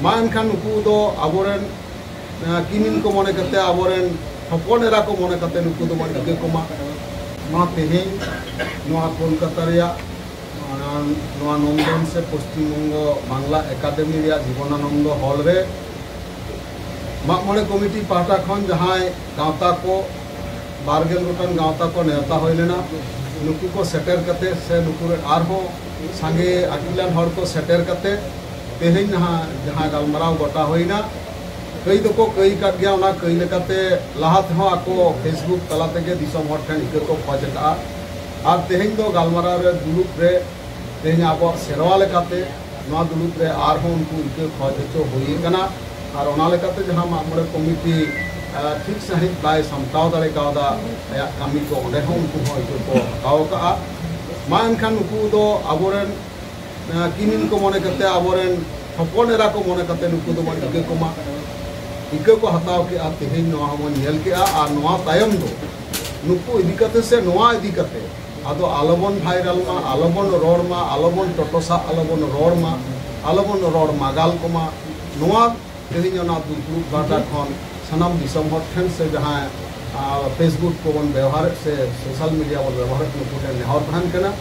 ᱢᱟ ᱮᱱᱠᱷᱟᱱ ᱱᱩᱠᱩ ᱫᱚ ᱟᱵᱚᱨᱮᱱ ᱠᱤᱢᱤᱱ ᱠᱚ ᱢᱚᱱᱮ ᱠᱟᱛᱮ ᱟᱵᱚᱨᱮᱱ ᱦᱚᱯᱚᱱ ᱮᱨᱟ ᱠᱚ ᱢᱚᱱᱮ ᱠᱟᱛᱮ ᱱᱩᱠᱩ ᱫᱚ ᱵᱚᱱ ᱴᱷᱤᱠᱟᱹ ᱠᱚᱢᱟ ᱱᱚᱣᱟ ᱛᱮᱦᱮᱧ ᱱᱚᱣᱟ ᱠᱳᱞᱠᱟᱛᱟ ᱨᱮᱭᱟᱜ ᱱᱚᱣᱟ ᱱᱚᱱᱫᱚᱱ ᱥᱮ ᱯᱚᱥᱪᱤᱢ ᱵᱚᱝᱜᱚ ᱵᱟᱝᱞᱟ ᱮᱠᱟᱰᱮᱢᱤ ᱨᱮᱭᱟᱜ ᱡᱤᱵᱚᱱᱟᱱᱚᱱᱫᱚ ᱦᱚᱞ ᱨᱮ ᱢᱟᱜ ᱢᱚᱬᱮ ᱠᱚᱢᱤᱴᱤ ᱯᱟᱦᱴᱟ ᱠᱷᱚᱱ ᱡᱟᱦᱟᱸᱭ ᱜᱟᱶᱛᱟ ᱠᱚ ᱵᱟᱨᱜᱮᱞ ᱜᱚᱴᱟᱝ ᱜᱟᱶᱛᱟ ᱠᱚ ᱱᱮᱣᱛᱟ ᱦᱩᱭ ᱞᱮᱱᱟ ᱱᱩᱠᱩ ᱠᱚ ᱥᱮᱴᱮᱨ ᱠᱟᱛᱮ ᱥᱮ ᱱᱩᱠᱩ ᱨᱮᱱ ᱟᱨᱦᱚᱸ ᱥᱟᱸᱜᱮ ᱟᱹᱠᱤᱞᱟᱱ ᱦᱚᱲ ᱠᱚ ᱥᱮᱴᱮᱨ ᱠᱟᱛᱮ ᱛᱮᱦᱮᱧ ᱱᱟᱦᱟᱜ ᱡᱟᱦᱟᱸ ᱜᱟᱞᱢᱟᱨᱟᱣ ᱜᱚᱴᱟ ᱦᱩᱭᱱᱟ ᱠᱟᱹᱭ ᱫᱚᱠᱚ ᱠᱟᱹᱭ ᱟᱠᱟᱫ ᱜᱮᱭᱟ ᱚᱱᱟ ᱠᱟᱹᱭ ᱞᱮᱠᱟᱛᱮ ᱞᱟᱦᱟ ᱛᱮᱦᱚᱸ ᱟᱠᱚ ᱯᱷᱮᱥᱵᱩᱠ ᱛᱟᱞᱟ ᱛᱮᱜᱮ ᱫᱤᱥᱚᱢ ᱦᱚᱲ ᱴᱷᱮᱱ ᱤᱠᱟᱹ ᱠᱚ ᱠᱷᱚᱡᱽ ᱟᱠᱟᱫᱼᱟ ᱟᱨ ᱛᱮᱦᱮᱧ ᱫᱚ ᱜᱟᱞᱢᱟᱨᱟᱣ ᱨᱮ ᱫᱩᱲᱩᱵ ᱨᱮ ᱛᱮᱦᱮᱧ ᱟᱵᱚᱣᱟᱜ ᱥᱮᱨᱣᱟ ᱞᱮᱠᱟᱛᱮ ᱱᱚᱣᱟ ᱫᱩᱲᱩᱵ ᱨᱮ ᱟᱨᱦᱚᱸ ᱩᱱᱠᱩ ᱤᱠᱟᱹ ᱠᱷᱚᱡᱽ ᱦᱚᱪᱚ ᱦᱩᱭ ᱟᱠᱟᱱᱟ ᱟᱨ ᱚᱱᱟ ᱞᱮᱠᱟᱛᱮ ᱡᱟᱦᱟᱸ ᱢᱟᱜ ᱢᱚᱬᱮ ᱠᱚᱢᱤᱴᱤ ᱴᱷᱤᱠ ᱥᱟᱺᱦᱤᱡ ᱵᱟᱭ ᱥᱟᱢᱴᱟᱣ ᱫᱟᱲᱮ ᱠᱟᱣᱫᱟ ᱟᱭᱟᱜ ᱠᱟᱹᱢᱤ ᱠᱚ ᱚᱸᱰᱮ ᱦᱚᱸ ᱩᱱᱠᱩ ᱦᱚᱸ ᱤᱠᱟᱹ ᱠᱚ ᱦᱟᱛᱟᱣ ᱟᱠᱟᱫᱼᱟ ᱢᱟ ᱮᱱᱠᱷᱟᱱ ᱱᱩᱠᱩ ᱫᱚ ᱟᱵᱚᱨᱮᱱ ᱠᱤᱢᱤᱱ ᱠᱚ ᱢᱚᱱᱮ ᱠᱟᱛᱮ ᱟᱵᱚ ᱨᱮᱱ ᱦᱚᱯᱚᱱ ᱮᱨᱟ ᱠᱚ ᱢᱚᱱᱮ ᱠᱟᱛᱮ ᱱᱩᱠᱩ ᱫᱚ ᱵᱚᱱ ᱤᱠᱟᱹ ᱠᱚᱢᱟ ᱤᱠᱟᱹ ᱠᱚ ᱦᱟᱛᱟᱣ ᱠᱮᱜᱼᱟ ᱛᱮᱦᱮᱧ ᱱᱚᱣᱟ ᱦᱚᱸᱵᱚᱱ ᱧᱮᱞ ᱠᱮᱜᱼᱟ ᱟᱨ ᱱᱚᱣᱟ ᱛᱟᱭᱚᱢ ᱫᱚ ᱱᱩᱠᱩ ᱤᱫᱤ ᱠᱟᱛᱮ ᱥᱮ ᱱᱚᱣᱟ ᱤᱫᱤ ᱠᱟᱛᱮ ᱟᱫᱚ ᱟᱞᱚᱵᱚᱱ ᱵᱷᱟᱭᱨᱟᱞ ᱢᱟ ᱟᱞᱚᱵᱚᱱ ᱨᱚᱲ ᱢᱟ ᱟᱞᱚᱵᱚᱱ ᱴᱚᱴᱚᱥᱟᱜ ᱟᱞᱚᱵᱚᱱ ᱨᱚᱲ ᱢᱟ ᱟᱞᱚᱵᱚᱱ ᱨᱚᱲ ᱢᱟᱜᱟᱞ ᱠᱚᱢᱟ ᱱᱚᱣᱟ ᱛᱮᱦᱮᱧ ᱚᱱᱟ ᱫᱩᱯᱲᱩᱵ ᱜᱟᱶᱛᱟ ᱠᱷᱚᱱ ᱥᱟᱱᱟᱢ ᱫᱤᱥᱚᱢ ᱦᱚᱲ ᱴᱷᱮᱱ ᱥᱮ ᱡᱟᱦᱟᱸᱭ ᱯᱷᱮᱥᱵᱩᱠ ᱠᱚᱵᱚᱱ ᱵᱮᱣᱦᱟᱨᱮᱫ ᱥᱮ ᱥᱳᱥᱟᱞ ᱢᱤᱰᱤᱭᱟ ᱵᱚᱱ ᱵᱮᱣᱦᱟᱨᱮᱫ ᱱᱩᱠᱩ ᱴᱷᱮᱱ ᱱᱮᱦᱚᱨ ᱛᱟᱦᱮᱱ ᱠᱟᱱᱟ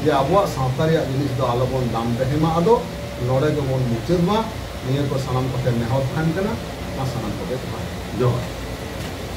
ᱡᱮ ᱟᱵᱚᱣᱟᱜ ᱥᱟᱶᱛᱟ ᱨᱮᱭᱟᱜ ᱡᱤᱱᱤᱥ ᱫᱚ ᱟᱞᱚ ᱵᱚᱱ ᱫᱟᱢ ᱫᱮᱦᱮ ᱢᱟ ᱟᱫᱚ ᱱᱚᱰᱮ ᱜᱮᱵᱚᱱ ᱢᱩᱪᱟᱹᱫ ᱢᱟ ᱱᱤᱭᱟᱹ ᱠᱚ ᱥᱟᱱᱟᱢ ᱠᱚᱴᱷᱮᱱ ᱱᱮᱦᱚᱨ ᱛᱟᱦᱮᱱ ᱠᱟᱱᱟ ᱢᱟ ᱥᱟᱱᱟᱢ ᱠᱚᱜᱮ ᱡᱚᱦᱟᱨ᱾